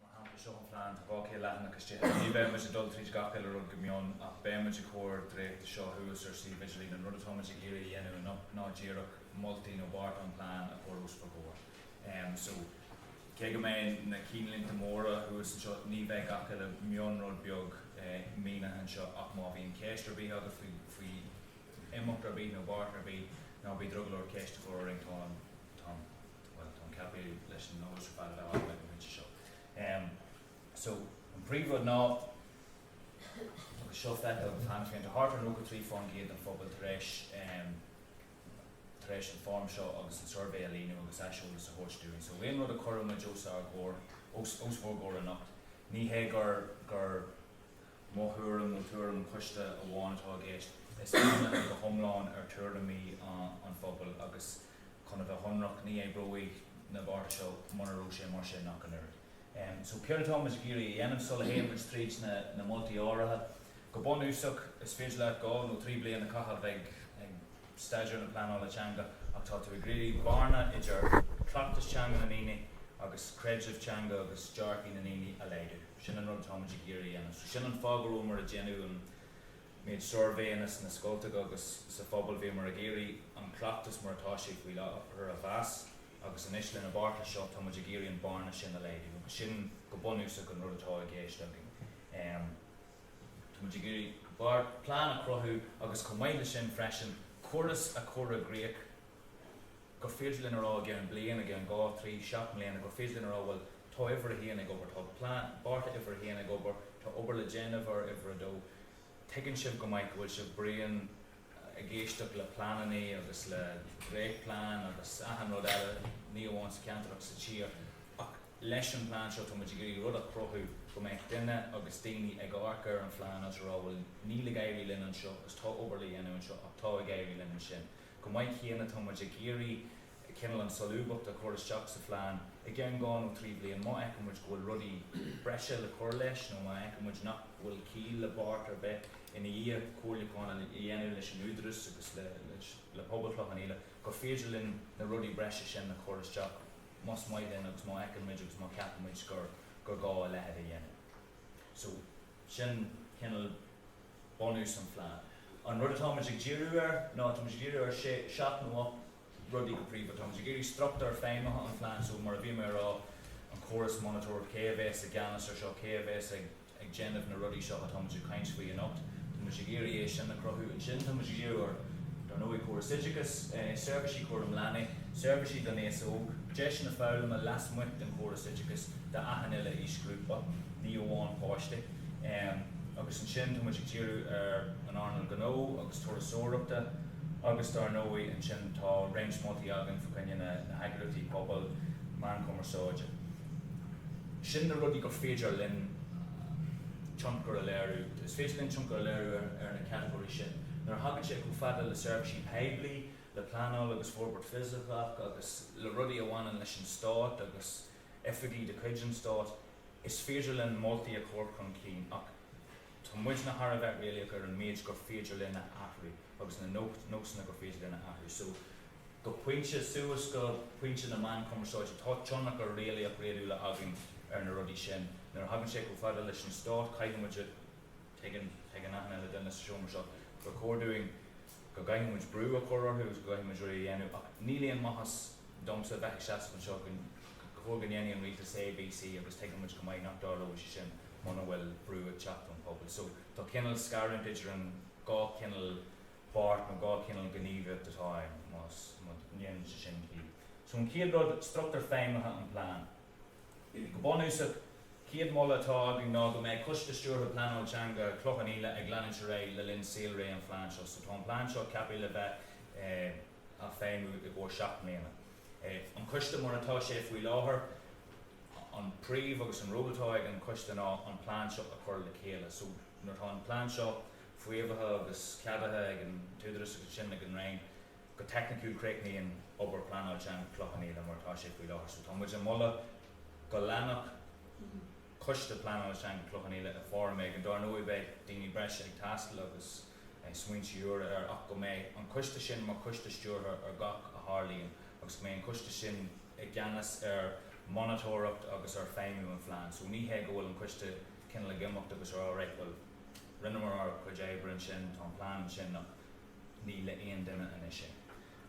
Mar shampla, seo an plean, tá 12 leathanach istigh ann. Ní bheidh muid ag dul tríd gach uile rud go mion ach beidh muid ag cur an dréachta seo thuas ar suíomh idirlín. An rud atá muid ag iarraidh a dhéanamh anocht ná díreach moltaí nó bearta an phlean a chur os bhur gcomhair. So, cé go mbeidh na cinnlínte móra thuas anseo, ní bheidh gach uile mion rud beag mínithe anseo ach má bhíonn ceist ar bith agat faoi imeacht ar bith nó beart ar bith, ná bí drogallach ceist a chur orainn, tá an. Bhuel, táim ceaptha leis an nós fada bheith agam ag an bpointe seo. Em, so, an príomhrud ná, agus seo feiceáil ann féin, tá thart ar 93% den phobal tar éis em, tar éis an fhoirm seo agus an suirbé a líonadh agus aiseolas a thabhairt dúinn. So aon rud a chuireann muid os ár gcomhair, os, os bhur gcomhair anocht, ní hé gur, gur mo thuairim nó tuairim an choiste amháin atá i gceist, is bunaithe go hiomlán ar tuairimí an, an phobail agus chun a bheith sonrach, ní oibreoidh na bearta seo mura raibh sé mar sin ach an oiread. So céard atá muid ag iarraidh a dhéanamh? Sula théann muid tríd na moltaí áirithe, go bunúsach, is féidir leat dhá nó trí bliana a chaitheamh ag staidéar na pleanála teanga ach tá tú ag iarraidh an bearna idir cleachtas teanga na ndaoine agus creideamh teanga agus dearcthaí na ndaoine a laghdú. Sin an rud atá muid ag iarraidh a dhéanamh. So sin an fáth go rabhamar ag déanamh an méid suirbhéanna sna scoltacha agus sa phobal bhíomar ag iarraidh an cleachtas mar atá sé faoi láthair a mheas agus anois leis na bearta seo tá muid ag iarraidh an bearna sin a laghdú agus sin go bunúsach an rud atá i gceist againn. Tá muid ag iarraidh mar plean a chruthú agus chomh maith le sin freisin córas a chur i gcríoch, gur féidir linn a rá ag 1 bliain, ag 1, 2, 3, 7 mbliana, gur féidir linn a rá bhuel tá uimhir a haon ag obair, tá plean, bearta uimhir a haon ag obair, tá obair le déanamh ar uimhir a dó. Tuigeann sibh go maith go bhfuil sibh bréan ag éisteacht le pleananna agus le dréacht plean agus achan rud eile, ní amháin sa cheantar ach sa tír ach leis an bplean seo tá muid ag iarraidh rud a chruthú go mbeadh duine agus daoine ag amharc ar an phlean agus a rá bhuel níl ag éirí linn anseo agus tá obair le dhéanamh anseo ach tá ag éirí linn ansin. Chomh maith céanna tá muid ag iarraidh cineál an solúbthacht a chur isteach sa phlean i gceann dhá nó trí bhliain má fheiceann muid go bhfuil rudaí breise le cur leis nó má fheiceann muid nach bhfuil ciall le beart ar bith ina dhiaidh comhairliúchán a dhéanamh leis an Údaras agus le pobal Chloich Cheann Fhaola gur féidir linn na rudaí breise sin a chur isteach más maith linn agus má fheiceann muid agus má cheapann muid gur gá a leitheid a dhéanamh. So. Sin cineál bunús an phlean. An rud atá muid ag díriú air ná, tá muid ag díriú ar sé, seacht nó ocht rudaí go príomha. Tá muid ag iarraidh struchtúr feidhmithe an phlean, so mar a bhí mé a rá, an córas monatóireacht, cé a bhéas i gceannas ar seo, cé a bhéas ag ag déanamh na rudaí seo atá muid ag caint faoi anocht. Tá muid ag iarraidh é sin a cruthú. Ansin tá muid ag díriú ar, dar ndóigh, córas oideachais, seirbhísí cúram leanaí, seirbhísí don aos óg, deiseanna foghlama lasmuigh den chóras oideachais d'achan uile aoisghrúpa. ní amháin páistí. Agus ansin tá muid ag díriú ar an earnáil gnó agus turasóireachta agus dar ndóigh ansin tá réimse moltaí againn fá choinne na heagraíochtaí pobail, meáin chumarsáide. Sin na rudaí gur féidir linn tionchar a léiriú. Is féidir linn tionchar a léiriú ar na catagóirí sin. Nuair a thagann sé chomh fada le seirbhísí poiblí, le pleanáil agus forbairt fisiceach agus le rudaí a bhaineann leis an stát agus oifigí de chuid an stáit, Is féidir linn moltaí a chur chun cinn ach tá muidne thar a bheith réalaíoch ar an méid gur féidir linn a athrú agus na nósanna gur féidir linn a athrú. So, go pointe, suas go pointe na meán cumarsáide, tá tionchar réalaíoch, réadúla againn ar na rudaí sin. Nuair a thagann sé chomh fada leis an stát, caithfidh muid a, tuigeann, tuigeann achan uile dhuine sa seomra seo gur chóir dúinn go gcaithfidh muid brú a chur orthu agus go gcaithfidh muid rudaí a dhéanamh ach níl aon maitheas domsa a bheith ag seasamh anseo ag rá go ndéanfaidh an rialtas A, B, C agus tuigeann muid go maith nach dtarlóidh sé sin muna bhfuil brú ag teacht ón bpobal. So tá cineál scarúint idir an dhá chineál páirt nó dhá chineál gníomhaíocht atá ann má dhéanann sé sin ciall. So an chéad rud, struchtúr feidhmithe an plean. Go bunúsach, chéad moladh atá againn ná go mbeidh Coiste Stiúrtha Pleanáil Teanga Chloich Cheann Fhaola ag leanúint ar aghaidh le linn saolré an phlean seo. So tá an plean seo ceapaithe le bheith á feidhmiú i gcomhair seacht mbliana. An coiste mar atá sé faoi láthair, an príomh agus an ról atá ag an coiste ná an plean seo a chur le chéile. So nuair atá an plean seo faomhaithe agus ceadaithe ag an tÚdarás agus ansin ag an Roinn, Go teicniciúil, críochnaíonn obair Pleanáil Teanga Chloich Cheann Fhaola mar atá sé faoi láthair. So tá muid ag moladh go leanfadh Coiste Pleanáil Teanga Chloich Cheann Fhaola i foirm éigin. Dar ndóigh beidh daoine breise ag teastáil agus beidh smaointe úra air ach go mbeidh an coiste sin mar coiste stiúrtha ar gach a tharlaíonn agus go mbeidh an coiste sin i gceannas ar monatóireacht agus ar feidhmiú an phlean. So ní hé go bhfuil an coiste cineál ag imeacht agus ag rá right bhuel rinneamar ár gcuid oibre ansin, tá an plean ansin ach Ní le aon duine anois é.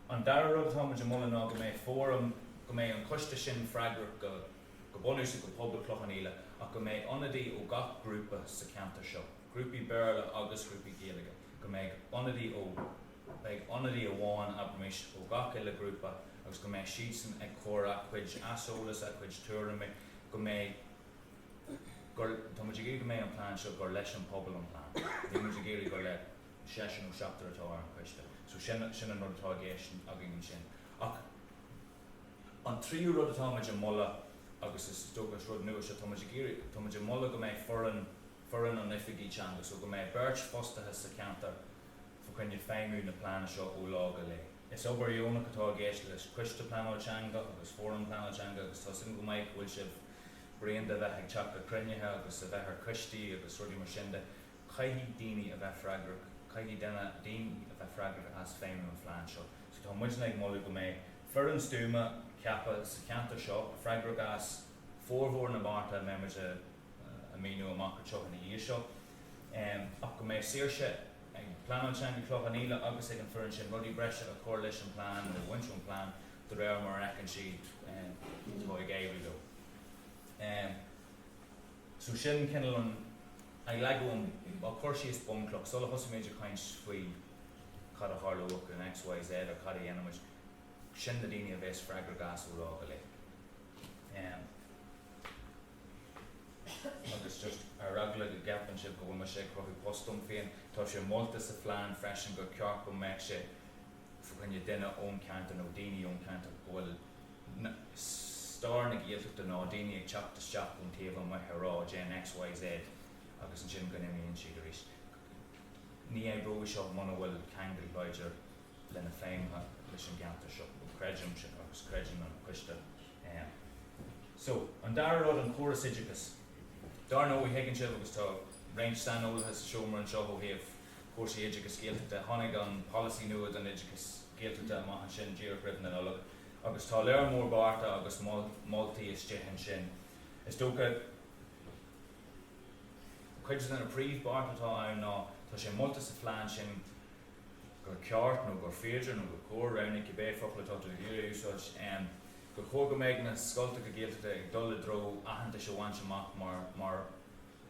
An dara rud atá muid a mholadh ná go mbeidh fóram, go mbeidh an coiste sin freagrach go go bunúsach go pobal Cloich Cheann Fhaola ach go mbeidh ionadaí ó gach grúpa sa cheantar seo, grúpaí Béarla agus grúpaí Gaeilge, go mbeidh ionadaí ó, beidh ionadaí amháin abraimis ó gach uile grúpa agus go mbeidh siadsan ag cur a' chuid aiseolas, a' chuid tuairimí, go mbeidh, gur, tá muid ag iarraidh go mbeidh an plean seo, gur leis an pobal an plean. Níl muid ag iarraidh gur le. Seisear nó seachtar atá ar an choiste. So sin, sin an rud atá i gceist againn ansin. Ach an tríú rud atá muid a mholadh, agus is dócha is rud nua seo, tá muid ag iarraidh, tá muid a mholadh go mbeidh foireann, foireann oifigigh teanga, so go mbeidh beirt fostaithe sa cheantar fá choinne feidhmiú na plean seo ó lá go lae. Is obair dheonach atá i gceist leis Coiste Pleanáil Teanga agus Fóram Pleanáil Teanga agus tá a fhios agam go maith go bhfuil sibh, bréan de a bheith ag teacht le cruinnithe agus a bheith ar choistí agus rudaí mar sin de. Caithfidh daoine a bheith freagrach, caithfidh daoine a bheith freagrach as feidhmiú an phlean seo. So tá muidne ag moladh go mbeidh foireann stuama ceaptha sa cheantar seo, freagrach as formhór na mbearta a mbeidh muid a mhíniú amach anseo ina dhiaidh seo. Ach go mbeidh saoirse ag Pleanáil Teanga Chloich Cheann Fhaola agus ag an foireann sin rudaí breise a chur leis an bplean nó a bhaint ón bplean de réir mar a fheiceann siad atá ag éirí leo. So sin cineál an, ag leagan an, ag cur síos bunchloch sula dtosaíonn muid ag caint faoi cad a tharlóidh in X, Y, Z or cad a dhéanfaidh muid, sin na daoine a bhéas freagrach as ó lá go lae. Em. agus just ar eagla go gceapann sibh go bhfuil mise ag cruthú post dom féin, tá sé molta sa phlean freisin gur ceart go mbeadh sé, fá choinne duine ón ceantar nó daoine ón ceantar go bhfuil stair na Gaeltachta ná daoine ag teacht isteach ón taobh amuigh a rá déan X, Y, Z agus ansin go n-imíonn siad arís. Ní oibreoidh seo muna bhfuil ceangal láidir le na feidhmeanna leis an gceantar seo. Creidim sin agus creideann an coiste é. So, an dara rud, an córas oideachais. Dar ndóigh thuigeann sibh agus tá roinnt saineolaithe sa seomra anseo ó thaobh chúrsaí oideachais Gaeltachta. Tháinig an polasaí nua don oideachas Gaeltachta amach ansin díreach roimh na Nollag agus tá lear mór bearta agus moltaí istigh ansin. Is dócha cuid de na príomhbhearta atá ann ná, tá sé molta sa phlean sin gur ceart nó gur féidir nó gur cóir, roghnaigh cibé focal atá tú ag iarraidh a úsáid, gur chóir go mbeidh na scoltacha Gaeltachta ag dul i dtreo aitheantas a bhaint amach mar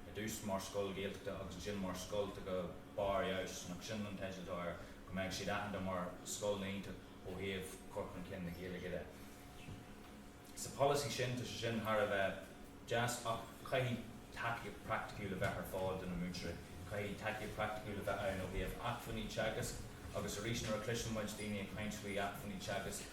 I dtús mar scoil Ghaeltachta agus ansin mar scoil go barr feabhais, nach sin an teideal atá air, go mbeadh siad aitheanta mar scoileanna iontach ó thaobh cur chun cinn na Gaeilge de. Sa polasaí sin tá sé sin thar a bheith deas ach caithfidh tacaíocht praiticiúil a bheith ar fáil do na múinteoirí. Caithfidh tacaíocht praiticiúil a bheith ann ó thaobh acmhainní teagaisc agus arís nuair a chloiseann muid daoine ag caint faoi acmhainní teagaisc,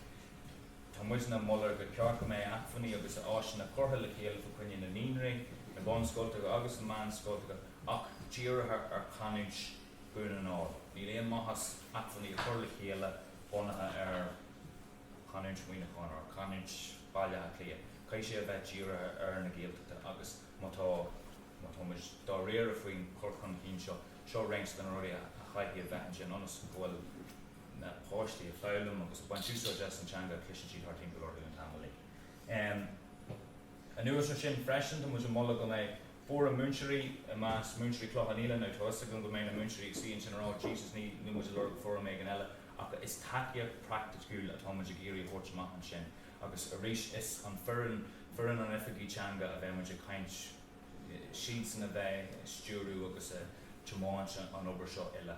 Tá muidne ag moladh gur cheart go mbeidh acmhainní agus áiseanna curtha le chéile fá choinne na naíonraí, na bunscoltacha agus na meánscoltacha ach dírithe ar chanúint Dhún na nGall. Níl aon maitheas acmhainní a chur le chéile bunaithe ar chanúint Mhuineacháin nó ar chanúint Bhaile Átha Cliath. Caithfidh sé a bheith dírithe ar na Gaeltachtaí agus má tá, má tá muid dáiríre faoin gcur chun chinn seo, seo roinnt de na rudaí a chaithfidh a bheith ansin ionas go bhfuil. na páistí ag foghlaim agus ag baint úsáid as an teanga a chloiseann siad thart timpeall orthu an t-am uilig. Anuas ar sin freisin, tá muid ag moladh go mbeidh fóram múinteoirí i measc múinteoirí Chloich Cheann Fhaola. Now tá 'fhios agam go mbeidh na múinteoirí ag suí ansin ag rá Jesus ní, níl muid ag lorg fóram éigin eile ach is tacaíocht praiticiúil atá muid ag iarraidh a thabhairt amach ansin agus arís is faoin fhoireann, foireann an Oifigigh Teanga a bheidh muid ag caint, siadsan a bheidh ag stiúriú agus ag tiomáint an obair seo uile.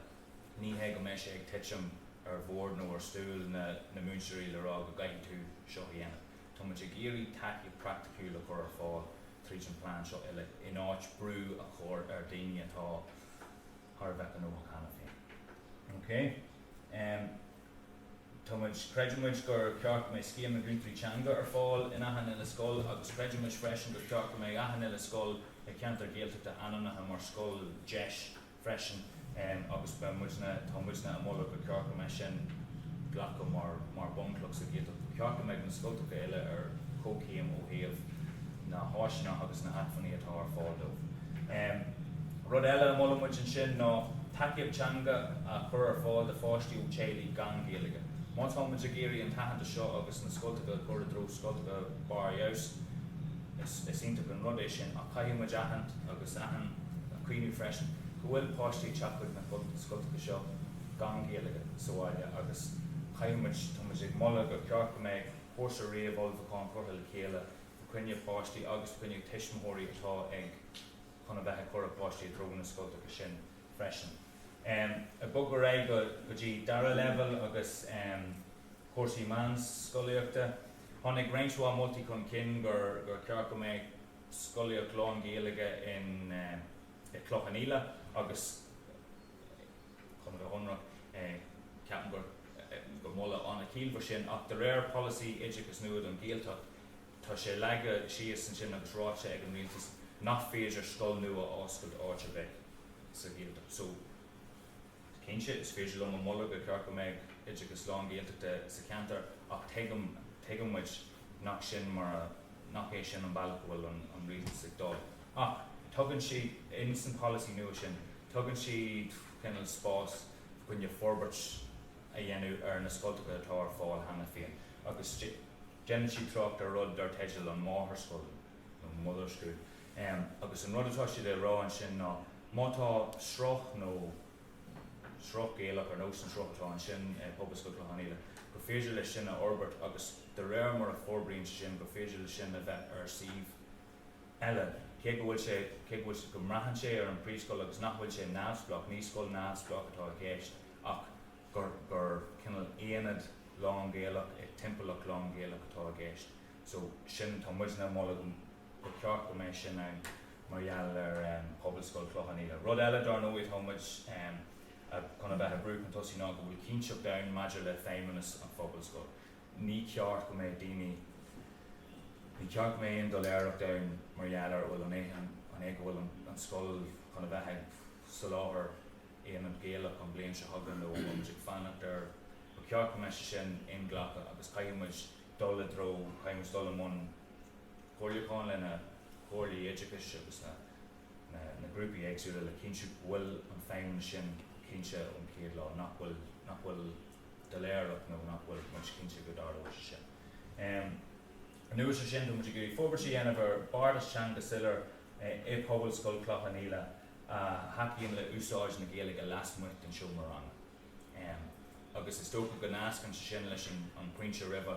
Ní hé go mbeidh sé ag titim ar bhord nó ar stól na múinteoirí le rá go gcaithfidh tú seo a dhéanamh. Tá muid ag iarraidh tacaíocht praiticiúil a chur ar fáil tríd an phlean seo uile in áit brú a chur ar daoine atá thar a bheith gnóthach cheana féin. OK? Tá muid, creideann muid gur cheart go mbeidh Scéim na gCúntóirí Teanga ar fáil in achan uile scoil agus creideann muid freisin gur cheart go mbeidh achan uile scoil i gceantar Gaeltachta ainmnithe mar scoil deis freisin agus beidh muidne, tá muidne ag moladh gur cheart go mbeidh sin glactha mar mar bhunchloch sa Ghaeltacht. Ba cheart go mbeadh na scoltacha uile ar chomhchéim ó thaobh na n-áiseanna agus na hacmhainní atá ar fáil dóibh. Rud eile a mholann muid ansin ná tacaíocht teanga a chur ar fáil do pháistí ó theaghlaigh gan Ghaeilge. Má tá muid ag iarraidh an t-aitheantas seo agus na scoltacha a chur i dtreo scoltacha barr feabhais is iontach an rud é sin ach caithfidh muid aithint agus. Is a choinneáil i gcuimhne freisin go bhfuil páistí ag teacht chuig na scoltacha seo gan Gaeilge sa bhaile agus caithfidh muid, tá muid ag moladh gur cheart go mbeidh cúrsa réamhullmhúcháin curtha le chéile fá choinne páistí agus fá choinne tuismitheoirí atá ag chun a bheith ag cur a páistí i dtreo na scoltacha sin freisin. Ag bogadh ar aghaidh go dtí dara leibhéal agus cúrsaí meánscolaíochta, tháinig roinnt mhaith moltaí chun cinn gur cheart go mbeadh, scolaíocht lán-Ghaeilge i gCloich Cheann Fhaola agus chun a bheith ionraic, ceapaim gur gur moladh an-chiallmhar sin ach de réir polasaí oideachais nua don Ghaeltacht tá sé leagtha síos ansin agus ráite ag an Rialtas nach féidir scoil nua a oscailt áit ar bith sa Ghaeltacht so cinnte is féidir liom a mholadh gur cheart go mbeadh oideachas lán-Ghaeltachta sa cheantar ach tuigim, tuigeann muid. nach sin mar a, nach é sin an bealach a bhfuil an rialtas ag gabháil. Ach tugann siad, insan pholasaí nua sin, tugann siad cineal spás fá choinne forbairt a dhéanamh ar na scoltacha atá ar fáil cheana féin agus déanann siad trácht ar rud dar teideal an máthairscoil nó mother school agus an rud atá siad a rá ansin ná má tá sruth nó sruth Gaelach ar nós an sruth atá ansin i Pobalscoil Chloich Cheann Fhaola gur féidir leis sin a fhorbairt agus De réir mar a forbraíonn sé sin, gur féidir leis sin a bheith ar suíomh eile. Cé go bhfuil sé, cé go bhfuil sé, go mbraitheann sé ar an príomhscoil agus nach bhfuil sé neamhspleách, ní scoil neamhspleách atá i gceist ach gur, gur cineál aonad lán-Ghaelach i dtimpeallacht lán-Ghaelach atá i gceist. So, sin, tá muidne ag moladh go, gur ceart go mbeadh sin ann mar gheall ar Phobalscoil Chloich Cheann Fhaola. Rud eile dar ndóigh atá muid chun a bheith ag brú chun tosaigh ná go bhfuil cinnteacht ann maidir le feidhmeannas an phobalscoil. Ní ceart go mbeadh daoine, ní ceart go mbeadh aon doiléireacht ann mar gheall ar an bhfuil an é an é go bhfuil an scoil chun a bheith ag soláthar aonad Gaelach an bhliain seo chugainn nó an bhfuil muid ag fanacht ar ba ceart go mbeadh sé sin inghlactha agus caithfidh muid dul i dtreo, caithfidh muid dul i mbun comhairliúcháin le na comhairlí oideachais agus na, na, na grúpaí éagsúla le cinntiú go bhfuil an feidhmeannas sin cinnte ón chéad lá nach bhfuil, nach bhfuil. doiléireacht nó nach bhfuil muid cinnte go dtarlóidh sé sin. Anuas ar sin, tá muid ag iarraidh forbairt a dhéanamh ar bheartas teanga soiléir i Pobalscoil Chloich Cheann Fhaola a thacaíonn le úsáid na Gaeilge lasmuigh den seomra ranga agus is dócha go nascann sé sin leis an pointe roimhe.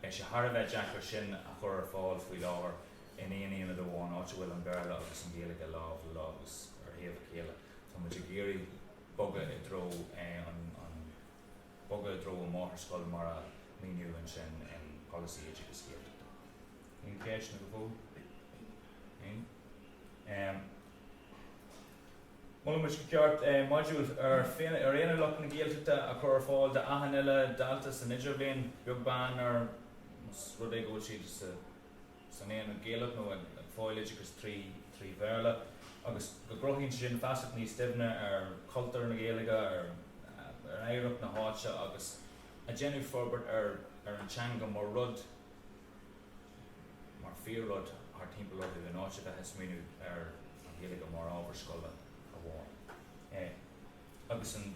Beidh sé thar a bheith deacair sin a chur ar fáil faoi láthair in aon aonad amháin, áit a bhfuil an Béarla agus an Ghaeilge lámh le lámh agus ar thaobh a chéile. Tá muid ag iarraidh. bogadh i dtreo an bogadh i dtreo an máthairscoil mar a míniodh ansin in Polasaí Oideachais Gaeltachta. Aon cheisteanna go fóill? Aon? Em. Molann muid gur cheart eh modúl ar féin ar aon ar luach na Gaeltachta a chur ar fáil d'achan uile dalta san idirbhliain, beag beann ar más rud é go bhfuil siad sa, san aonad Gaelach nó ag fáil oideachais trí trí Bhéarla agus go gcruthaíonn sé sin feasacht níos doimhne ar chultúr na Gaeilge, ar ar oidhreacht na háite agus ag déanamh forbairt ar ar an teanga mar rud, mar fíor rud thar timpeall orthu in áit a bheith ag smaoineamh ar an Ghaeilge mar ábhar scoile amháin. Eh agus an.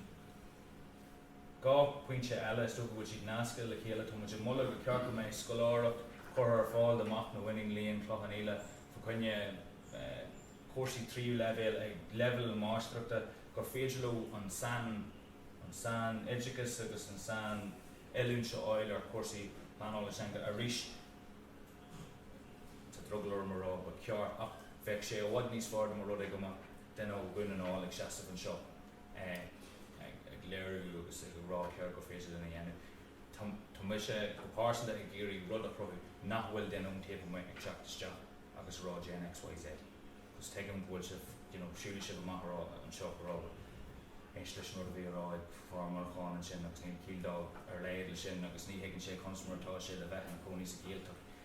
Dhá phointe eile, is dócha go bhfuil siad nasctha le chéile. Tá muid ag moladh go ceart go mbeidh scoláireacht curtha ar fáil do mhac nó iníon Chloich Cheann Fhaola fa choinne cúrsaí tríú leibhéal ag leibhéal na máistreachta gur féidir leo an sain an sain oideachas agus an sain oiliúint a fháil ar chúrsaí pleanála teanga. Arís tá drogall orm a rá go ceart ach bheadh sé i bhfad níos fearr dá mba rud é go mbeadh duine ó Dhún na nGall ag seasamh anseo. ag léiriú agus ag rá céard gur féidir linn a dhéanamh. Tá mise go pearsanta ag iarraidh rud a chruthú nach bhfuil duine ón taobh amuigh ag teacht isteach agus a rá déan X, Y, Z agus tuigim go bhfuil sibh, you know, siúlfaidh sibh amach anseo ag rá bhuel, éist leis an rud a bhí a rá ag fear Muineacháin ansin agus níl ciall dá laghad le sin agus ní thuigeann sé conas mar atá sé le bheith ina chónaí sa Ghaeltacht.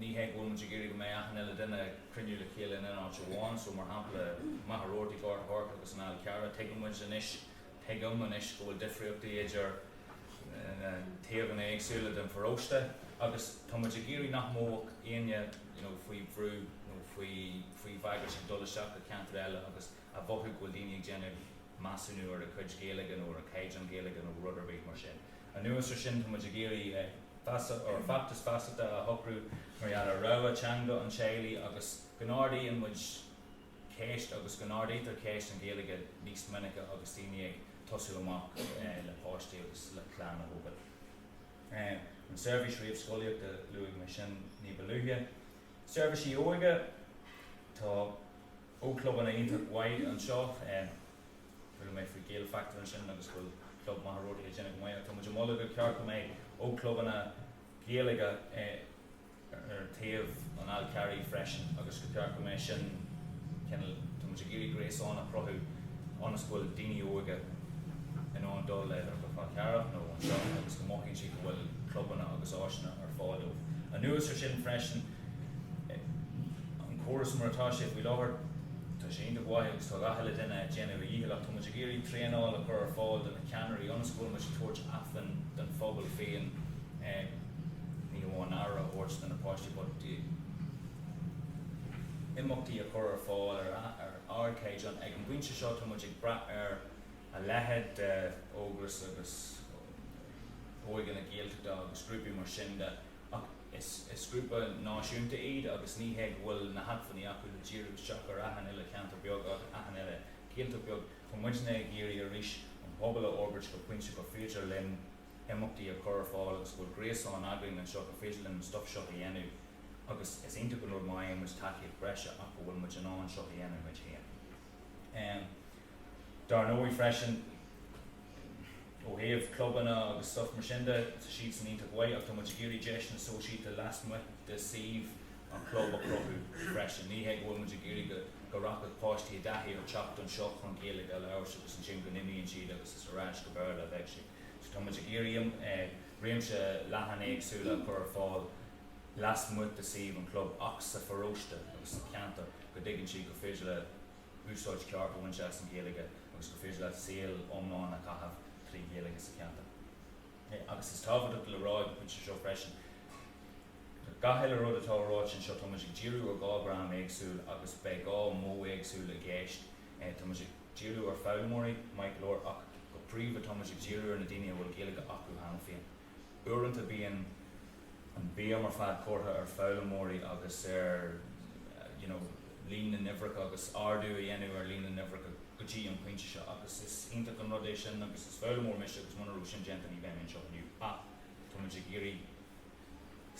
Ní hé go bhfuil muid ag iarraidh go mbeidh achan uile duine ag cruinniú le chéile in aon áit amháin so, mar shampla, Machaire Rabhartaigh, Gort a' Choirce agus an Fál Carrach. Tuigeann muid anois, tuigim anois go bhfuil difríochtaí idir na taobhanna éagsúla den pharóiste agus tá muid ag iarraidh nach mbeadh éinne, you know, faoi bhrú nó faoi, faoi bhagairt ag dul isteach go ceantar eile agus, a mhothú go bhfuil daoine ag déanamh measúnú ar a cuid Gaeilge nó ar a caighdeán Gaeilge nó rud ar bith mar sin. Anuas ar sin, tá muid ag iarraidh feachtas feasachta a shocrú mar gheall ar rogha teanga an teaghlaigh agus go n-ardaíonn muid ceist agus go n-ardaítear ceist an Ghaeilge níos minice agus daoine ag tosú amach le páistí agus le clann a thógáil. An seirbhís réamhscolaíochta, luaigh mé sin ní ba luaithe. Seirbhísí óige, tá. ógchlubanna iontacha anseo. Chuala mé faoi Gael Factor ansin agus go bhfuil club Mhachaire Rabhartaigh ag déanamh go maith. Tá muid ag moladh go ceart go mbeidh ógchlubanna Gaeilge ar thaobh an Fháil Charraigh freisin agus go ceart go mbeidh sin, cineál, tá muid ag iarraidh gréasán a chruthú ionas go bhfuil daoine óga in ann dul ar go Fál Carrach nó anseo agus go mothaíonn siad go bhfuil clubanna agus áiseanna ar fáil dóibh. Anuas ar sin freisin. an córas mar atá sé faoi láthair, tá sé iontach mhaith agus tá gach uile duine ag déanamh a dhíchill ach tá muid ag iarraidh traenáil a chur ar fáil do na ceannairí ionas go bhfuil muid ag tabhairt acmhainn don phobal féin ní amháin aire a thabhairt do na páistí but imeachtaí a chur ar fáil ar, ar ardchaighdeán. Ag an bpointe seo tá muid ag brath ar a leithéid de Ógras agus Óige na Gaeltachta agus grúpaí mar sin de ach, Is grúpa náisiúnta iad agus ní hé go bhfuil na hacmhainní acu le díriú isteach ar achan uile cheantar beag agus achan uile ceantar beag. So tá muidne ag iarraidh arís an pobal a fhorbairt go pointe gur féidir linn imeachtaí a chur ar fáil agus go bhfuil gréasán againn anseo gur féidir linn an stuif seo a dhéanamh agus is iontach an rud má fhaigheann muid tacaíocht breise ach go bhfuil muid in ann seo a dhéanamh muid féin. Dar ndóigh freisin, ó thaobh clubanna agus stuif mar sin de, tá siadsan iontach mhaith ach tá muid ag iarraidh deiseanna sóisialta lasmuigh de shuíomh an chlub a chruthú freisin. Ní hé go bhfuil muid ag iarraidh go go rachadh páistí i dtaithí ar theacht anseo chun Gaeilge a labhairt agus ansin go n-imíonn siad agus is ar ais go Béarla a bheidh siad. So tá muid ag iarraidh réimse leathan éagsúla a chur ar fáil lasmuigh de shuíomh an chlub ach sa pharóiste agus sa cheantar go dtuigeann siad gur féidir leat úsáid ceart a bhaint as an Ghaeilge agus gur féidir leat saol iomlán a chaitheamh trí Ghaeilge sa cheantar. Agus is tábhachtach le rá ag an phointe seo freisin, le gach uile rud atá ráite anseo, tá muid ag díriú ar dhá dhream éagsúil agus beidh dhá mhodh éagsúil i gceist. Tá muid ag díriú ar foghlaimeoirí, maith go leor, ach go príomha tá muid ag díriú ar na daoine a bhfuil Gaeilge acu cheana féin. Uaireanta bíonn an bhéim ar fad curtha ar foghlaimeoirí agus ar you know líon na n-uimhreacha agus ardú a dhéanamh ar líon na n-uimhreacha go dtí an pointe seo agus is iontach an rud é sin agus is foghlaimeoir mise agus muna raibh sin déanta ní bheadh mé anseo inniu ach táimid ag iarraidh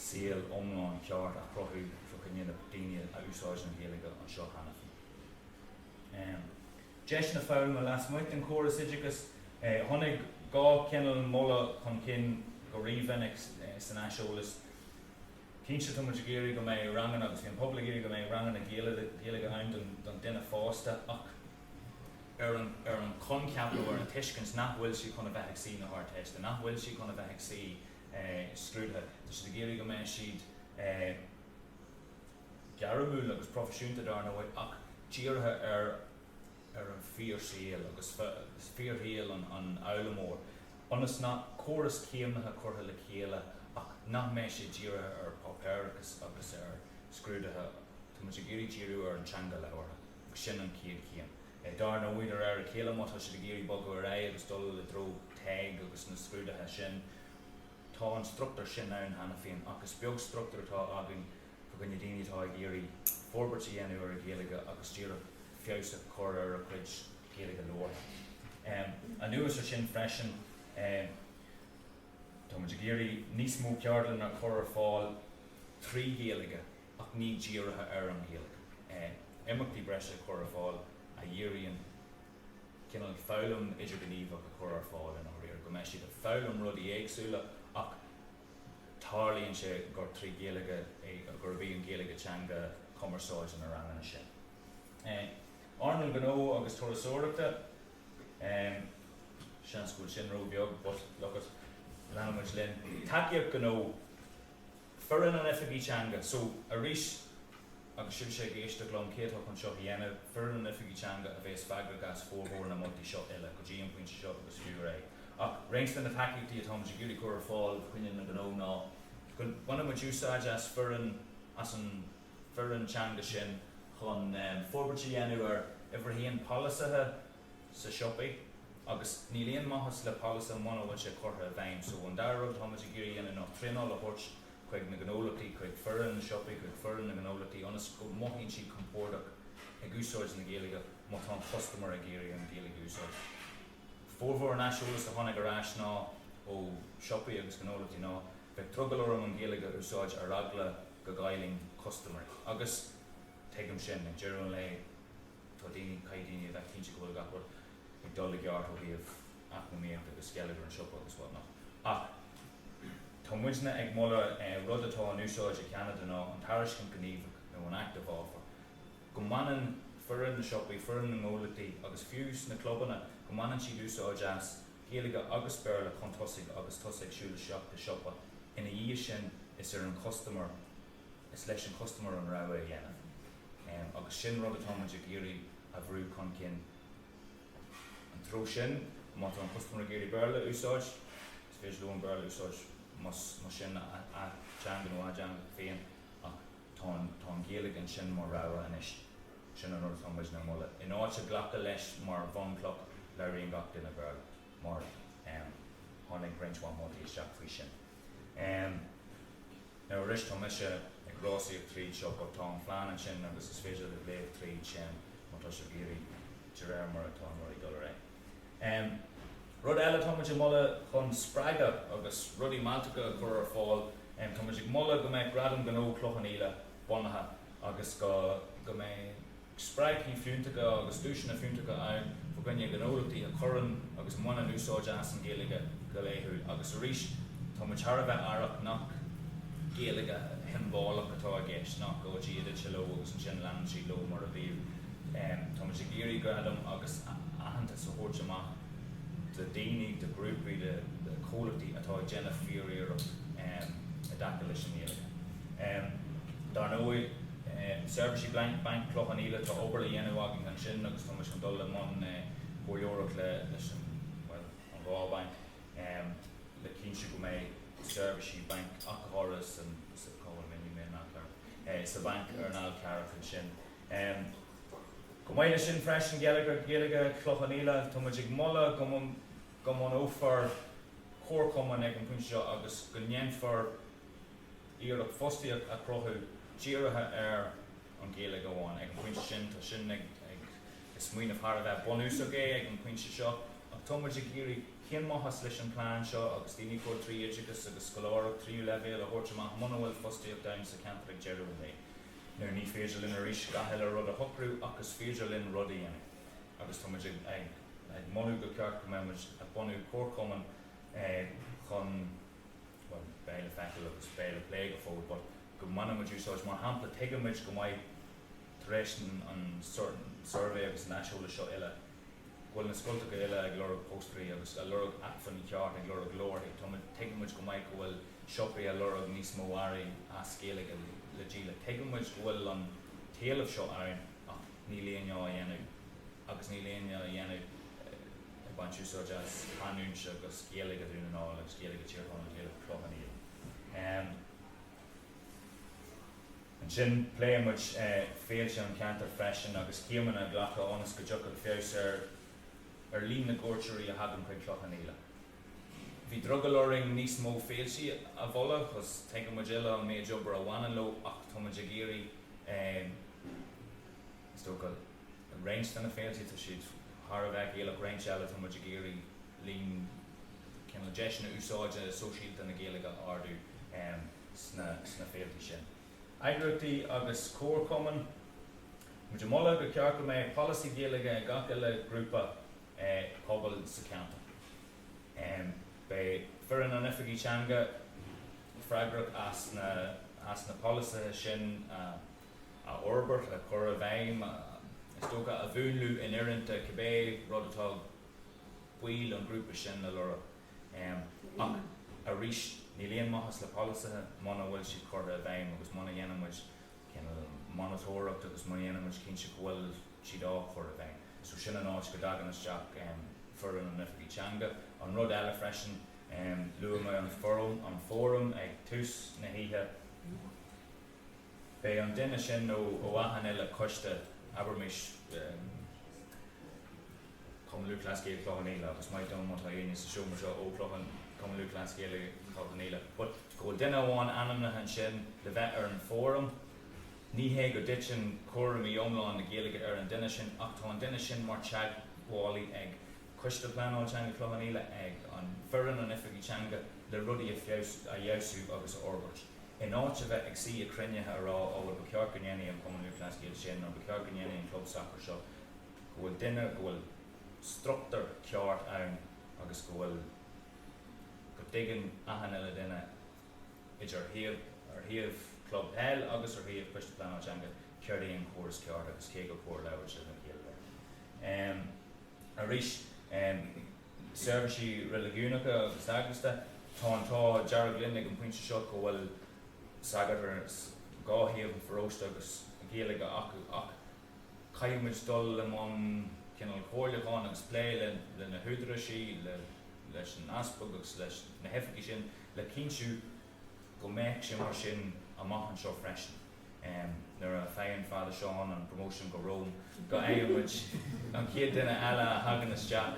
saol iomlán ceart a chruthú fá choinne na daoine a úsáideann an Ghaeilge anseo cheana féin. deiseanna foghlama lasmuigh den chóras oideachais. Tháinig dhá chineal moladh chun cinn go rí-mhinic san aiseolas. Cinnte, tá muid ag iarraidh go mbeidh ranganna, agus bhí an pobal ag iarraidh go mbeidh ranganna Gaeilge ann don duine fásta, ach ar an choincheap nó ar an tuiscint nach bhfuil siad chun a bheith ag suí na hArdteiste, nach bhfuil siad chun a bheith ag suí scrúdaithe. Tá siad ag iarraidh go mbeidh siad. gairmiúil agus proifisiúnta dar ndóigh ach dírithe ar an fhíorshaol agus fíorshaol an fhoghlaimeoir ionas go mbeidh córas céimnithe curtha le chéile ach nach mbeidh sé dírithe ar páipéir agus ar scrúdaithe. Tá muid ag iarraidh díriú ar an teanga labhartha agus sin an chéad chéim. Dar ndóigh de réir a chéile má tá siad ag iarraidh bogadh ar aghaidh agus dul i dtreo TEG agus na scrúdaithe sin tá an struchtúr sin ann cheana féin ach is beag struchtúr atá againn fá choinne daoine atá ag iarraidh forbairt a dhéanamh ar a Ghaeilge agus díreach feabhas a chur ar a chuid Gaeilge labhartha. Anuas ar sin freisin, tá muid ag iarraidh níos mó ceardlanna a chur ar fáil trí Ghaeilge ach ní dírithe ar an Ghaeilge. Imeachtaí breise a chur ar fáil a dhíríonn cineál foghlaim idirghníomhach a chur ar fáil i ndáiríre, go mbeidh siad ag foghlaim rudaí éagsúla ach, Tarlaíonn sé gur trí Ghaeilge é, gurb í an Ghaeilge teanga chumarsáide na ranganna sin. Earnáil Ghnó agus Turasóireachta, seans go bhfuil sin ró-bheag but look it, leanann muid linn. Tacaíocht Ghnó, Foireann an Oifigigh Teanga, so arís, Agus sibhse ag éisteacht liom, cé atá chun seo a dhéanamh, foireann an Oifigigh Teanga a bhéas freagrach as formhór na moltaí seo uile, go dtí an pointe seo agus fiú ar é. Ach cuid de na tacaíochtaí atá muid ag iarraidh cur ar fáil fá choinne na ngnó ná go mbainfidh muid úsáid as foireann, as an foireann teanga sin chun forbairt a dhéanamh ar uimhir a haon, polasaithe, sa siopaí agus níl aon maitheas le polasaithe muna bhfuil sé curtha i bhfeidhm. So an dara rud atá muid ag iarraidh a dhéanamh ná traenáil a thabhairt chuig na gnólachtaí, chuig foireann na siopaí, chuig foireann na ngnólachtaí ionas go mothaíonn siad compordach ag úsáid na Gaeilge má tá an custaiméir ag iarraidh an Ghaeilge a úsáid. Formhór an aiseolas a tháinig ar ais ná ó siopaí agus gnólachtaí ná bheadh drogall orm an Ghaeilge a úsáid ar eagla go gcaillfinn custaiméirí agus tuigim sin, ag deireadh an lae Tá daoine, caithfidh daoine a bheith cinnte go bhfuil gach rud ag gabháil i gceart ó thaobh eacnamaíochta agus geilleagar an siopa agus what not. Ach tá muidne ag moladh, rud atá in úsáid i gCeanada ná an tairiscint ghníomhach nó an active offer. Go mbaineann foireann na siopaí, foireann na ngnólachtaí agus fiú sna clubanna, go mbaineann siad úsáid as Gaeilge agus Béarla chun tosaigh agus tusa ag siúl isteach i siopa. Ina dhiaidh sin is ar an chustaiméir, is leis an chustaiméir an rogha a dhéanamh. Agus sin rud atá muid ag iarraidh a bhrú chun cinn. Sa treo sin, má tá an custaiméir ag iarraidh Béarla a úsáid, is féidir leo an Béarla a úsáid más sin a dteanga nó a dteanga féin ach tá an Ghaeilge ansin mar rogha anois. Sin an rud atá muidne ag moladh. In áit glacadh leis mar bhunchloch, labhraíonn gach duine Béarla mar tháinig roinnt mhaith moltaí isteach faoi sin. Em, Now arís tá mise ag rásaíocht tríd seo but tá an plean ansin agus is féidir libh léamh tríd sin má tá sibh ag iarraidh de réir mar atá rudaí ag dul ar aghaidh. Em, Rud eile tá muid ag moladh chun spreagadh agus rudaí mealltacha a chur ar fáil, em, tá muid ag moladh go mbeidh Gradam Gnó Chloich Cheann Fhaola bunaithe agus go mbeidh spreagthaí fiúntacha agus duaiseanna fiúntacha ann fá choinne gnólachtaí a chuireann agus a bhaineann úsáid as an Ghaeilge go laethúil agus arís tá muid thar a bheith aireach nach Gaeilge shiombalach atá i gceist, nach go dtí go dtagann sé leo agus ansin leanann siad leo mar a bhíodh. Tá muid ag iarraidh gradam agus aitheantas a thabhairt amach do daoine, do ghrúpaí, do chomhlachtaí atá ag déanamh fíor-iarracht i dtaca leis an nGaeilge. Dar ndóigh. Seirbhísí Blank Bainc Chloich Cheann Fhaola, tá obair le dhéanamh againn ansin agus tá muid chun dul i mbun comhairleoireacht leis an, bhuel, an dhá bhanc le cinntiú go mbeidh seirbhísí bainc athchóirithe san, sa, cá bhfuil mé, níl mé in ann cur, sa bhanc ar an Fhál Carrach ansin. Chomh maith leis sin freisin, Geilleagar Gaeilge Chloich Cheann Fhaola, tá muid ag moladh go, go mbunófar comharchumann ag an bpointe seo agus go ndéanfar, iarracht fostaíocht a chruthú dírithe ar an Ghaeilge amháin. Ag an phointe sin, tá sin, is smaoineamh thar a bheith bunúsach é ag an pointe seo, ach tá muid ag iarraidh cén maitheas leis an plean seo agus daoine a chur trí oideachas agus scoláireacht tríú leibhéal a thabhairt amach muna bhfuil fostaíocht ann sa cheantar ag deireadh an lae. Now ní féidir linn arís gach uile rud a shocrú ach is féidir linn rud a dhéanamh agus tá muid ag moladh gur cheart go mbeadh muid ag bunú comharchumann chun bhuel, beidh le feiceáil agus beidh le plé go fóill but go mbainfidh muid úsáid, mar shampla, tuigeann muid go maith tar éis an suirbhé agus an aiseolais seo uile go bhfuil na scoltacha uile ag lorg póstairí agus a' lorg acmhainní ceart, ag lorg leabharthaí, tá muid, tuigeann muid go maith go bhfuil siopaí a' lorg níos mó earraí as Gaeilge le díoladh, tuigeann muid go bhfuil an t-éileamh seo ann ach níl éinne á dhéanamh agus níl éinne á dhéanamh. ag baint úsáid as canúint agus Gaeilge Dhún na nGall agus Gaeilge Thír Chonaill, Gaeilge Chloich Cheann Fhaola. Ansin pléann muid féilte an cheantair freisin agus céimeanna a ghlacadh ionas go dtiocfadh feabhas ar ar líon na gcuairteoirí a thagann chuig Cloich Cheann Fhaola. Bhí drogall orainn níos mó féiltí a mholadh cos tuigeann muid uile an méid obair a bhaineann leo ach tá muid ag iarraidh is dócha, In roinnt de na féilte tá siad thar a bheith Gaelach, roinnt eile tá muid ag iarraidh líon na deiseanna úsáide sóisialta na Gaeilge a ardú sna féilte sin. Eagraíochtaí agus Comharchumainn. Tá muid ag moladh gur cheart go mbeadh polasaí Gaeilge ag gach uile ghrúpa pobail sa cheantar. Beidh foireann an Oifigigh Teanga freagrach as na polasaithe sin a. a fhorbairt, a chur i bhfeidhm, is dócha, a mhúnlú in oiriúint do cibé rud atá baill an ghrúpa sin a lorg. Ach arís, níl aon maitheas le polasaithe muna bhfuil siad curtha i bhfeidhm agus muna dhéanann muid monatóireacht agus muna dhéanann muid cinnte go bhfuil siad á chur i bhfeidhm. So sin an áit go dtagann isteach foireann an Oifigigh Teanga. An rud eile freisin, luaigh mé an fóram ag tús na hoíche, Beidh an duine sin nó ó achan uile coiste abraimis Cumann Lúthchleas Gael Chloich Cheann Fhaola agus maith dom má tá éinne sa seomra seo ó Chloich Cheann Cumann Lúthchleas Gael Chloich Cheann Fhaola but go bhfuil duine amháin ainmnithe ansin le bheith ar an bhfóram. Ní hé go dtiteann cúraimí iomlán na Gaeilge ar an duine sin ach tá an duine sin mar teagmhálaí ag Coiste Pleanála Teanga Chloich Cheann Fhaola, ag an foireann, an oifigigh teanga le rudaí a fheabhsú agus a fhorbairt. In áit a bheith ag suí ag cruinnithe a rá ó bhuel ba cheart go ndéanfadh an Cumann Lúthchleas Gael sin nó ba cheart go ndéanfadh an club sacair seo, go bhfuil duine, go bhfuil struchtúr ceart ann agus go bhfuil, go dtuigeann achan uile duine idir ar thaobh, ar thaobh club peil agus ar thaobh Coiste Pleanála Teanga céard é an córas ceart agus cé gur cóir labhairt le chéile léi. Arís. Seirbhísí Reiligiúnacha agus Eaglasta, Tá an t-ádh dearg linn ag an pointe seo go bhfuil sagairt ar dhá thaobh an pharóiste agus Gaeilge acu ach caithfidh muid dul i mbun cineál comhairliúcháin agus plé le le na húdaráisí, le leis an Easpag agus leis na hoifigigh sin le cinntiú go mbeadh sé mar sin amach anseo freisin. Nuair a fhaigheann Father Seán an promotion go Rome, go bhfaigheann muid an chéad duine eile a thagann isteach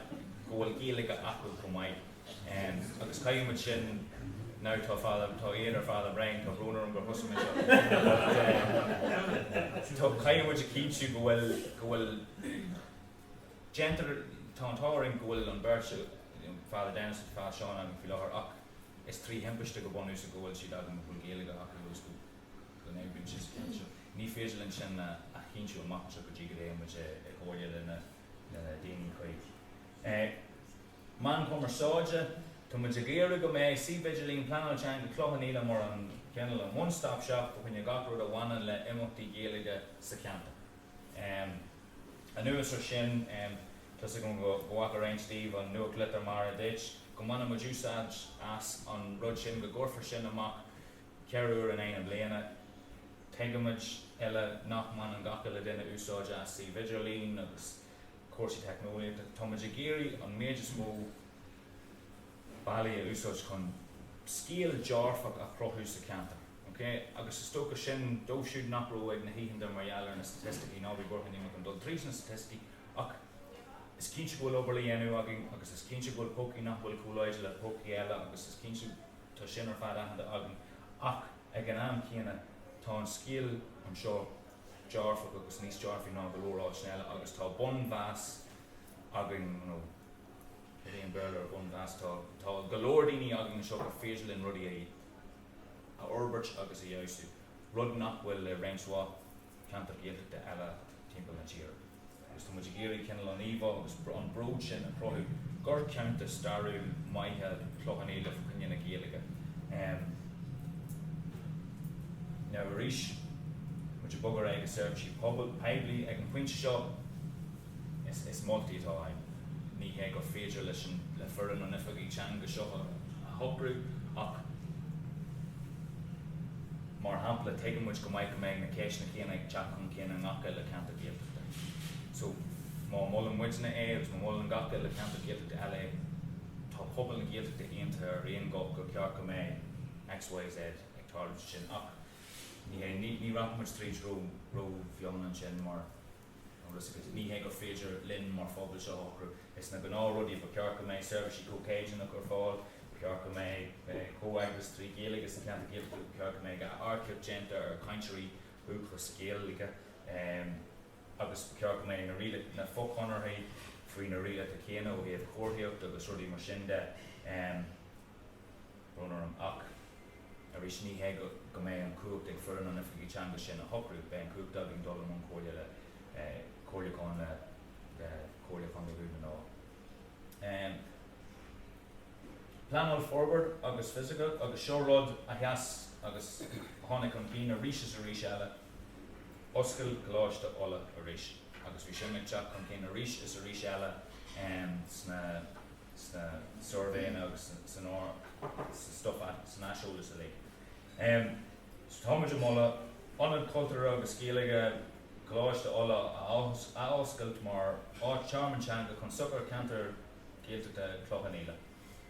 go bhfuil Gaeilge acu chomh maith. Agus caithfidh muid sin, now tá Father, tá Aodh ar Father Brian, tá brón orm gur thosaigh mé seo, but tá, caithfidh muid a chinntiú go bhfuil, go bhfuil, déantar, tá an t-ádh orainn go bhfuil an bheirt, Father Denis agus Father Seán againn faoi láthair ach, Is trí thimpiste go bunúsach go bhfuil siad againn a bhfuil Gaeilge acu agus go n-oibríonn siad sa cheantar seo. Ní féidir linn sin a chinntiú amach anseo go dtí go dtéann muid i gcomhairle le na daoine. OK, na meáin chumarsáide. Tá muid ag iarraidh go mbeidh suíomh idirlín Pleanáil Teanga Chloich Cheann Fhaola mar an cineál an one stop shop fá choinne gach rud a bhaineann le imeachtaí Gaeilge sa cheantar. Anuas ar sin, tá's agam go bhfaca roinnt daoibh an nuachtlitir mar a dúirt. Go mbaineann muid úsáid as an rud sin, go gcuirfear sin amach ceithre uair in aghaidh na bliana. Tuigimid uile nach mbaineann gach uile duine úsáid as suímh idirlín agus cúrsaí teicneolaíochta. Táimid ag iarraidh an méid is mó bealaí a úsáid chun scéal dearfach a chruthú sa cheantar. OK, agus is dócha sin dóibh siúd nach raibh ag na hoícheanta mar gheall ar na staitisticí, ná bí buartha, níl mé chun dul tríd na staitisticí ach is cinnte go bhfuil obair le déanamh againn agus is cinnte go bhfuil pócaí nach bhfuil chomh láidir le pócaí eile agus is cinnte tá sin ar fad aitheanta againn ach ag an am céanna tá an scéal anseo dearfach agus níos dearfaí ná go leor áiteanna eile agus tá bunmheas againn you know, Iríonn Béarla ar bunmheas tá, tá go leor daoine againn anseo gur féidir linn rudaí a a fhorbairt agus a fheabhsú, rud nach bhfuil ag roinnt mhaith ceantar Gaeltachta eile timpeall na tíre. Agus tá muid ag iarraidh cineál an íomhá agus an bród sin a chruthú gur ceantar stairiúil maith é Cloich Cheann Fhaola fá choinne na Gaeilge. Now arís, muid ag bogadh ar aghaidh go seirbhísí pobail, poiblí ag an phointe seo, Is moltaí atá ann. Ní hé gur féidir leis le foireann an Oifigigh Teanga seo a shocrú ach mar shampla tuigeann muid go maith go mbeidh na ceisteanna céanna ag teacht chun cinn i ngach uile ceantar Gaeltachta. So má mholann muidne é agus má mholann gach uile ceantar Gaeltachta eile é, tá pobal na Gaeltachta aontaithe ar aon ghuth gur ceart go mbeidh X, Y, Z ag tarlú ansin ach ní hé, ní rachaidh muid tríd rómhion ansin mar Agus ní hé gur féidir linn mar phobal seo a shocrú. Is na gnáthrudaí, ba cheart go mbeidh seirbhísí comhchéimneach ar fáil, ba cheart go mbeidh comhfheagras trí Ghaeilge sna ceantair Gaeltachta, ba cheart go mbeidh earcaíocht déanta ar chainteoirí dúchais Gaeilge agus ba cheart go mbeidh na rialacha, na fochonarthaí faoi na rialacha céanna ó thaobh comharthaíochta agus rudaí mar sin de. brón orm ach arís ní hé go mbeidh an chumhacht ag foireann an Oifigigh Teanga sin a shocrú, beidh an chumhacht againn dul i mbun comhairle le comhairliúchán le Comhairle Contae Dhún na nGall. Pleanáil Forbartha agus Fisiciúil agus seo rud a sheas agus a tháinig chun cinn arís is arís eile, oscail Coláiste Uladh arís agus bhí sin ag teacht chun cinn arís is arís eile sna. sna suirbhéanna agus san stuif san aiseolas uilig. Tá muid ag moladh Ionad Cultúrtha agus Gaeilge Choláiste Uladh a athoscailt mar thearmann teanga chun sochair cheantar Ghaeltachta Chloich Cheann Fhaola.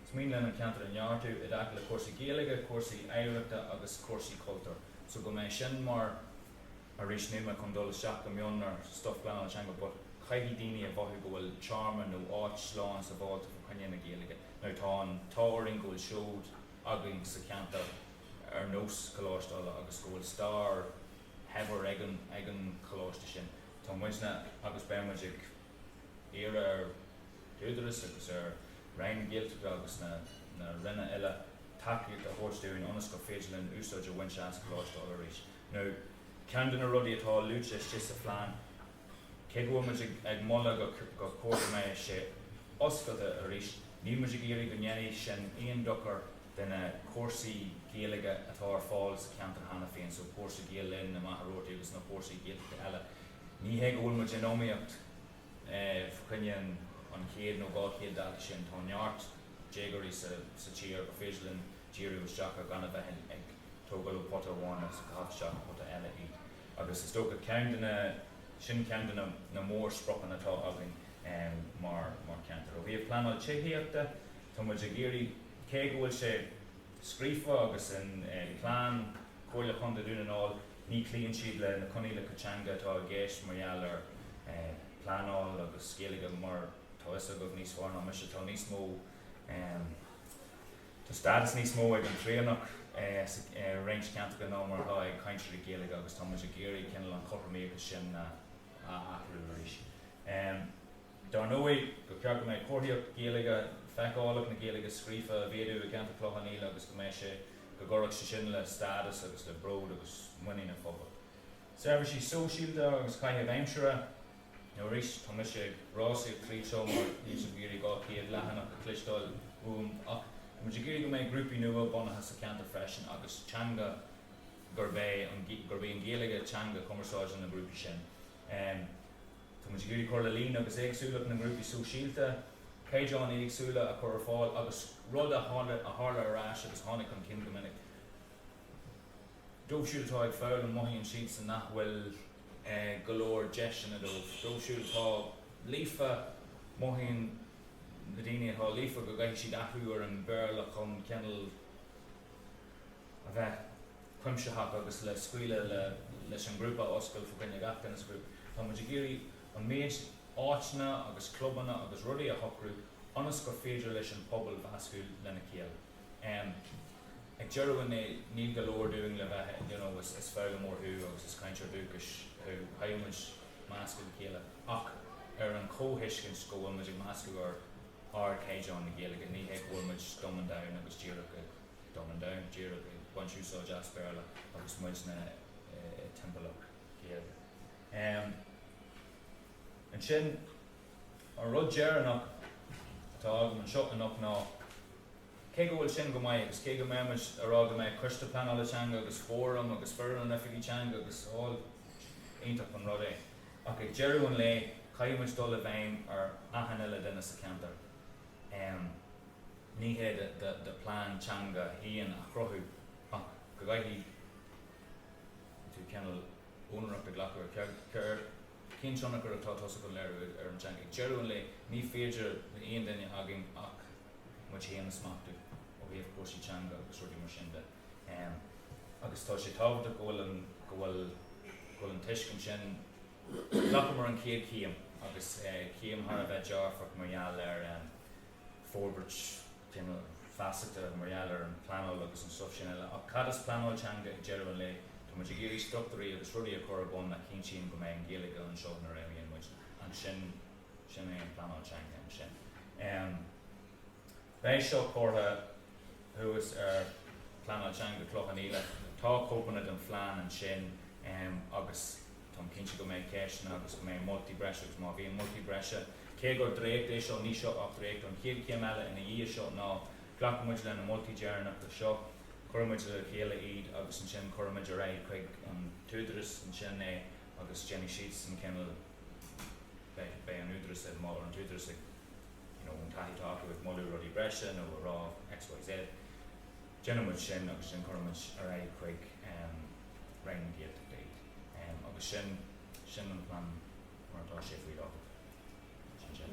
Is mian linn an ceantar a neartú i dtaca le cúrsaí Gaeilge, cúrsaí oidhreachta agus cúrsaí cultúir so go mbeidh sin mar. arís ní mé chun dul isteach go mion ar stuif phleanála teanga but caithfidh daoine a mhothú go bhfuil tearmann nó áit slán sabháilte fá choinne na Gaeilge nuair atá an t-ádh orainn go bhfuil seod againn sa cheantar ar nós Coláiste Uladh agus go bhfuil stair shaibhir ag an ag an choláiste sin. Tá muidne agus beidh muid ag iarraidh ar an Údarás agus ar Roinn na Gaeltachta agus na na Ranna eile tacaíocht a thabhairt dúinn ionas gur féidir linn úsáid a bhaint as Coláiste Uladh arís. Now, ceann de na rudaí atá luaite istigh sa phlean, cé go bhfuil muid ag moladh gur chóir go mbeidh sé oscailte arís, níl muid ag iarraidh go ndéanfaidh sin aon dochar do na cúrsaí Gaeilge atá ar fáil sa cheantar cheana féin, so cúrsa Gael Linn, i Machaire Rabhartaigh agus na cúrsaí Gaeltachta eile. Ní hé go bhfuil muid in iomaíocht fá choinne an chéad nó dhá chéad dalta sin, tá neart déagóirí sa tír gur féidir linn, díriú isteach ar gan a bheith ag tógáil ó pota amháin agus ag caitheamh isteach i bpota eile. Agus is dócha ceann de na, sin ceann de na na mórspriocanna atá againn mar mar cheantar. Ó thaobh pleanáil tithíochta, tá muid ag iarraidh, cé go bhfuil sé scríofa agus i bplean Chomhairle Chontae Dhún na nGall, ní chloíonn siad le na coinníollacha teanga atá i gceist mar gheall ar pleanáil agus Gaeilge mar tá fhios agaibh níos fearr ná mise, tá níos mó. Tá stádas níos mó ag an Traonach i roinnt ceantracha ná mar atá ag cainteoirí Gaeilge agus tá muid ag iarraidh cineál an chothromaíocht sin a athrú arís. Dar ndóigh, ba cheart go mbeadh comharthaíocht Ghaeilge, feiceálacht na Gaeilge scríofa a mhéadú i gceantar Chloich Cheann Fhaola agus go mbeadh sé, go gcuirfeadh sé sin le stádas agus le bród agus muinín an phobail. Seirbhísí sóisialta agus caitheamh aimsire. Nó arís, tá mise ag rásaíocht tríd seo mar níl sibh ag iarraidh 200 leathanach a chloisteáil uaim ach tá muid ag iarraidh go mbeidh grúpaí nua bunaithe sa cheantar freisin agus teanga gurb é an, gurb í an Ghaeilge teanga chumarsáide na ngrúpaí sin. Tá muid ag iarraidh cur le líon agus éagsúlacht na ngrúpaí sóisialta, caighdeáin éagsúla a chur ar fáil agus rud a tharla arís agus a tháinig chun cinn go minic, Dóibh siúd atá ag foghlaim, mothaíonn siadsan nach bhfuil go leor deiseanna dóibh. Dóibh siúd atá líofa, mothaíonn na daoine atá líofa go gcaithfidh siad athrú ar an Bhéarla chun cineál a bheith cuimsitheach agus le scaoileadh leis an ngrúpa a oscailt fá choinne gach duine sa ghrúpa. Tá muid ag iarraidh an méid áiteanna agus clubanna agus rudaí a shocrú ionas gur féidir leis an pobal meascadh lena chéile. M, Ag deireadh an lae níl go leor dínn le bheith you know is is foghlaimeoir thú agus is cainteoir dúchais thú, caithfidh muid meascadh le chéile ach ar an comhthuiscint go bhfuil muid ag meascadh ar ardchaighdeán na Gaeilge, ní hé go bhfuil muid dumbing down agus díreach ag dumbing down, díreach ag baint úsáid as Béarla agus muidne i timpeallacht Gaeilge. M, Ansin, An rud deireanach atá agam anseo anocht ná cé go bhfuil sin go maith agus cé go mbeidh muid ag rá go mbeidh Coiste Pleanála Teanga agus Fóram agus foireann agus Oifigigh Teanga agus all iontach an rud é ach ag deireadh an lae caithfidh muid dul i bhfeidhm ar achan uile duine sa cheantar. Ní hé do plean teanga a haon a chruthú ach go gcaithfidh tú cineál úinéireacht a ghlacadh ar Cén tionchar atá tusa chun léiriú ar an teanga? Ag deireadh an lae, ní féidir le aon duine againn ach muid féin a smachtú ó thaobh cúrsaí teanga agus rudaí mar sin de. Agus tá sé tábhachtach go bhfuil an, go bhfuil, go bhfuil an tuiscint sin, ghlacamar an chéad chéim agus céim thar a bheith dearfach mar gheall ar forbairt, Déanamh feasachta mar gheall ar an pleanáil agus an stuif sin eile. Ach cad is pleanáil teanga ag deireadh an lae? Tá muid ag iarraidh struchtúirí agus rudaí a chur ar bun a chinntíonn go mbeidh an Ghaeilge anseo nuair a imíonn muid. Sin é an pleanáil teanga ansin. Beidh seo curtha thuas ar Pleanáil Teanga Chloich Cheann Fhaola. Tá cóipeanna den phlean ansin agus. Tá mé cinnte go mbeidh ceisteanna agus go mbeidh moltaí breise agus má bhíonn moltaí breise, cé gur dréacht é seo, níl seo ach dréacht, an chéad chéim eile ina dhiaidh seo ná glacfaidh muid leis na moltaí deireanacha seo, cuirfidh muid le chéile iad agus ansin cuirfidh muid ar aghaidh chuig an t-údaras ansin é agus déanfaidh siadsan cineál, beidh, beidh an údaras ag moladh, an t-údaras ag, you know, an taithí atá acu ag moladh rudaí breise nó ag rá X, Y, Z. Déanfaidh muid sin agus ansin cuirfidh muid ar aghaidh chuig Roinn na Gaeltachta agus sin, sin an plean mar atá sé faoi láthair. Sin sin.